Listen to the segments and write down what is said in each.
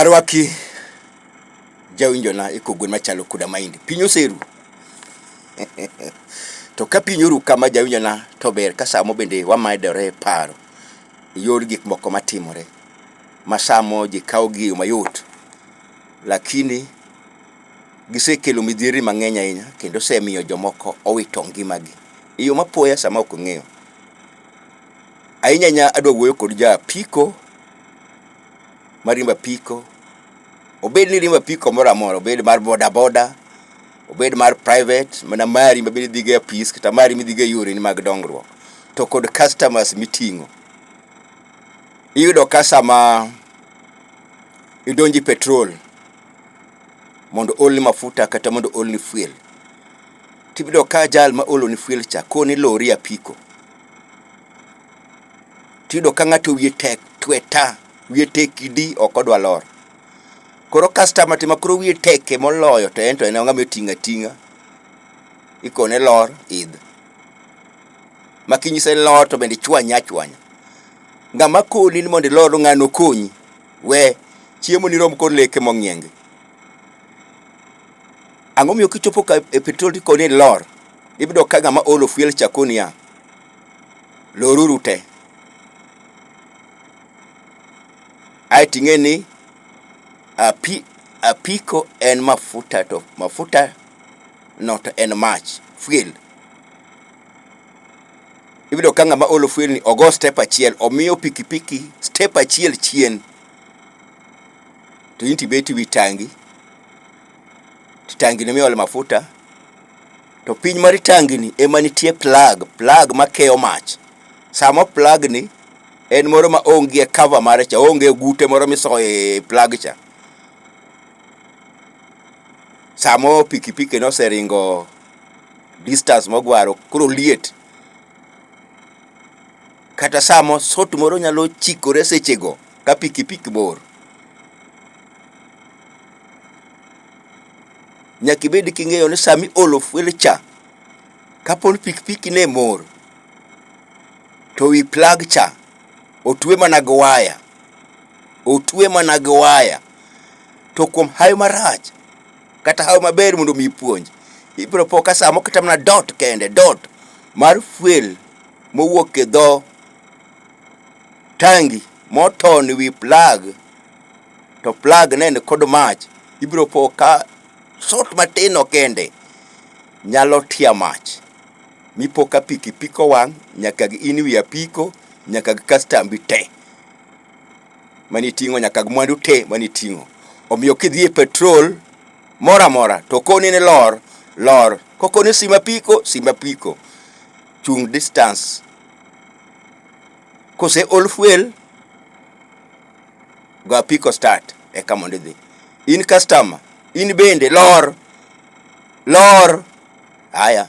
Arwaki jawinjona e kogwen machalo koda maindi. Piny oseru, to ka piny oru kama jawinjona to ber ka samo bende wamadore e paro e yor gik moko matimore ma samo ji kawogi e yo mayot lakini gisekelo midhierni mang'eny ahinya kendo osemiyo jomoko owito ngimagi e yo mapoya sama ok ong'eyo. Ahinya ahinya adwa wuoyo kod ja apiko mariembo apiko, obed ni iriembo apiko moro amora, obed mar boda boda, obed mar private mana mari mabende idhigo e apis kata mari midhigo e yoreni mag dongruok to kod customers miting'o. Iyudo ka sama idonjo e petrol mondo oolni mafuta kata mondo oolni fuel, tiyudo ka jal ma ooloni fuel cha koni lor e apiko. tiyudo ka ng'ato wiye tek tweta, wiye tek idi ok odwa lor. Koro customer to ema koro wiye teke moloyo to en to en ng'ama oting' ating'a. Ikone lor, idh. Ma kinyise lor to bende ichwanye achwanya. Ng'ama koni ni mondo ilor ng'ano okonyi, we. Chiemoni rom kod leke mong'iengi. Ang'o miyo kichopo ka e petrol tiko ni lor, ibido ka ng'ama olo fuel chako niya, loruru te. Ae ting'e ni api, apiko en mafuta to mafuta no to en mach, fuel. Ibido ka ng'ama olo fuel ni ogo step achiel, omiyo pikipiki step achiel chien. To in tibet wi tangi. to tangini miole mafuta to piny mar tangini ema nitie plug, plug makeyo mach. Sama plug ni en moro ma onge cover mare cha, onge ogute moro misoye plug cha. Samo pikipiki no oseringo distance mogwaro koro liet. Kata samo sot moro nyalo chikore sechego. ka pikipiki bor. Nyaka ibed king'eyo ni sama iolo fuel cha, kapo ni pikipiki ne mor, to wi plag cha otwe mana gi waya, otwe mana gi waya. To kuom hawi marach kata hawi maber mondo mi ipuonj, ibiro po ka sa moko kata mana dot kende, dot mar fuel mowuok e dho. tangi moton e wi plag to plag ne ni kod mach ibiro po ka sort matin no kende nyalo tia mach mi po ka piki piko wang' nyaka gi in wi apiko nyaka gi kastambi te mane itingo nyaka gi mwandu te mane itingo omiyo ki idhi e petrol moro amora to okoni ni lor lor ko okoni sim apiko sim apiko chung' distance Kose ol fuel, go apiko start eka mondo idhi. In customer, in bende lor, lor. Aya.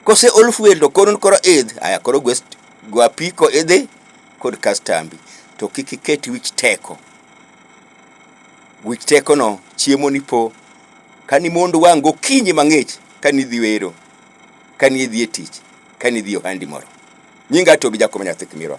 Kose ol fuel to koro koro idh, aya koro go st- go apiko idhi kod kastambi. To kik iket wich teko. Wich tekono chiemo ni po. Kani mond wang' gokinyi mang'ich kani dhi wero. kane idhi e tich, kane idhi e ohandi moro. Nyinga Tobi Jakom Nyathi Kimirwa.